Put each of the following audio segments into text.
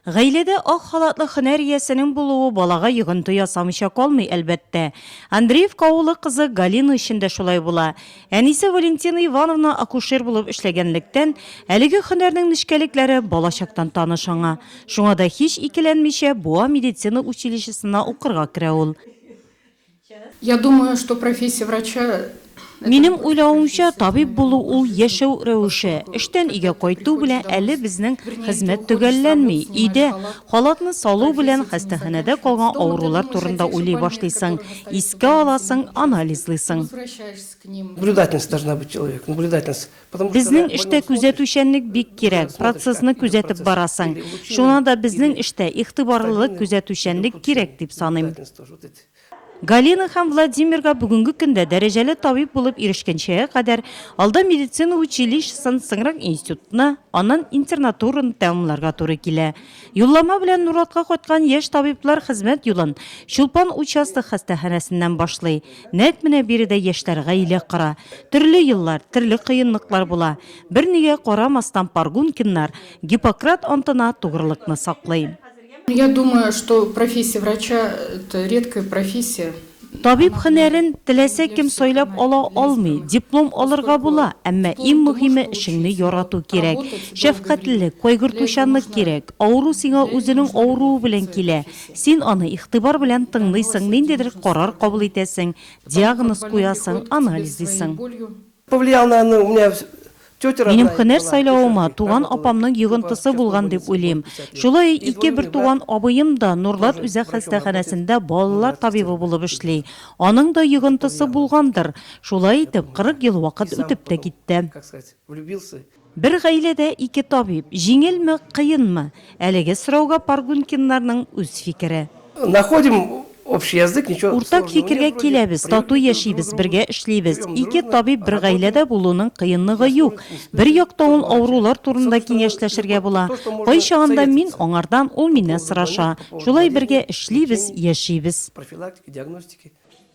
Гаиләдә ак халатлы һөнәр иясенең булуы балага йогынты ясамыйча калмый, әлбәттә. Андреевка авылы кызы Галина өчен дә шулай була. Әнисе Валентина Ивановна акушер булып эшләгәнлектән, әлеге һөнәрнең нечкәлекләре балачактан таныш аңа. Шуңа да һич икеләнмичә, Буа медицина училищесына укырга керә ул. Я думаю, что профессия врача Минем уйлавымча, табиб булу ул яшәү рәвеше. Эштән өйгә кайту белән әле безнең хезмәт төгәлләнми. Өйдә халатны салу белән хастаханәдә калган авырулар турында уйлый башлыйсың, искә аласың, анализлыйсың. Наблюдательность должна быть человек, наблюдательность. Безнең эштә күзәтүчәнлек бик кирәк, процессны күзәтеп барасың. Шуңа да безнең эштә игътибарлылык, күзәтүчәнлек кирәк дип саныйм. Галина һәм Владимирга бүгенге көндә дәрәҗәле табиб булып ирешкәнчегә кадәр, алда медицина училищесын, соңрак институтны, аннан интернатураны тәмамларга туры килә. Юллама белән Нуратка кайткан яшь табиблар хезмәт юлын Чулпан участок хастаханәсеннән башлый. Нәкъ менә биредә яшьләр гаилә кора. Төрле еллар, төрле кыенлыклар була. Бернигә карамастан Паргункиннар Гиппократ антына тугрылыкны саклый. Я думаю, что профессия врача это редкая профессия. Табиб һөнәрен теләсә кем сайлап ала алмый, диплом алырга була, әмма иң мөһиме эшеңне ярату кирәк. Шәфкатьлелек, кайгыртучанлык кирәк. Авыру сиңа үзенең авыруы белән килә. Син аны игътибар белән тыңлыйсың, ниндидер карар кабул итәсең, диагноз куясың, анализлыйсың. Повлиял на, ну, у меня тетя родная. Минем һөнәр сайлавыма туган апамның йогынтысы булган дип уйлыйм. Шулай ике бертуган абыем да Нурлат үзәк хастаханәсендә балалар табибы булып эшли. Аның да йогынтысы булгандыр. Шулай итеп, 40 ел вакыт үтеп тә китте. Бер гаиләдә ике табиб, җиңелме, кыенмы? Әлеге сорауга Паргункиннарның үз фикере. Находим общий язык, ничего сложного нет вроде. Уртак фикергә киләбез, тату яшибез, бергә эшлибез. Ике табиб бер гаиләдә булуның кыенлыгы юк. Бер яктан ул авырулар турында киңәшләшергә була. Кайчагында мин аңардан, ул миннән сораша. Шулай бергә эшлибез, яшибез. Профилактика, диагностика.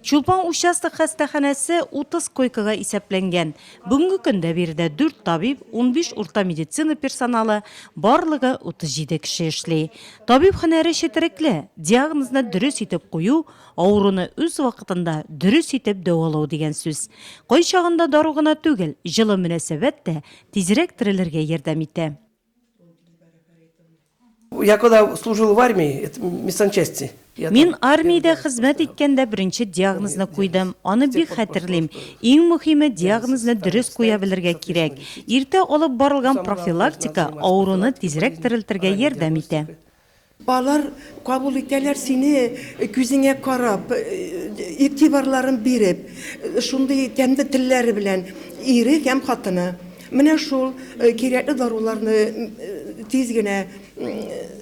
Чулпан участок хастаханәсе 30 койкага исәпләнгән. Бүгенге көндә биредә дүрт табиб, унбиш урта медицина персоналы, барлыгы 37 кеше эшли. Табиб һөнәре четерекле, диагнозны дөрес итеп кую, авыруны үз вакытында дөрес итеп дәвалау дигән сүз. Кайчагында дару гына түгел, җылы мөнәсәбәт тә тизрәк терелергә ярдәм итә. Я когда служил в армии, это медсанчасти. Мин армиядә хезмәт иткәндә беренче диагнозны куйдым. Аны бик хәтерлим. Иң мөһиме диагнозны дөрес куя белергә кирәк. Иртә алып барылган профилактика авыруны тизрәк терелтергә ярдәм итә. Алар кабул итәләр сине күзеңә карап, игътибарларын биреп, шундый тәмле телләре белән, ире һәм хатыны. Менә шул кирәкле даруларны тиз генә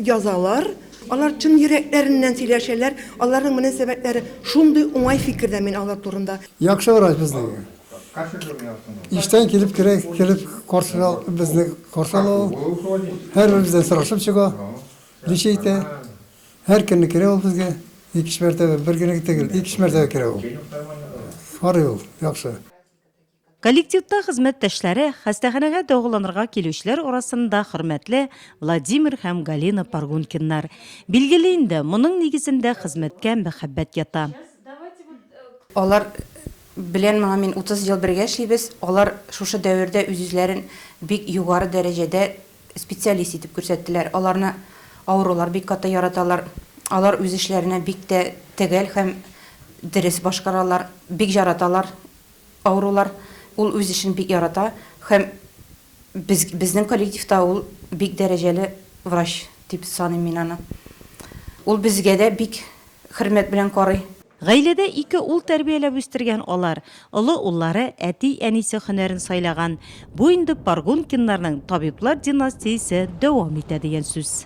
язалар. Алар чын йөрәкләреннән сөйләшәләр, аларның мөнәсәбәтләре шундый уңай фикердә мин алар турында. Яхшы врач безнең. Иштән килеп керә, килеп каршына безне каршына ул. Һәрберебездән сорашып чыга. Ничә әйтә? Һәр көнне керә ул безгә. Икеш мәртәбә, бер генә түгел, икеш мәртәбә керә ул. Карый ул, яхшы. Коллективта хезмәттәшләре, хастаханәгә дәваланырга килүчеләр арасында хөрмәтле Владимир һәм Галина Паргункиннар. Билгеле инде, моның нигезендә хезмәткә мәхәббәт ята. Алар Белән моңа мин 30 ел бергә эшлибез, алар шушы дәвердә үз-үзләрен бик югары дәрәҗәдә специалист итеп күрсәттеләр. Аларны авырулар бик каты яраталар. Алар үз эшләренә бик тә төгәл һәм дөрес башкаралар. Бик җараталар авырулар. Ул үз эшен бик ярата һәм. Без, безнең коллективта ул бик дәрәҗәле врач дип саныйм мин аны. Ул безгә дә бик хөрмәт белән карый. Гаиләдә ике ул тәрбияләп үстергән алар, олы уллары, әти-әнисе һөнәрен сайлаган. Бу инде Паргункиннарның табиблар династиясе дәвам итә дигән сүз.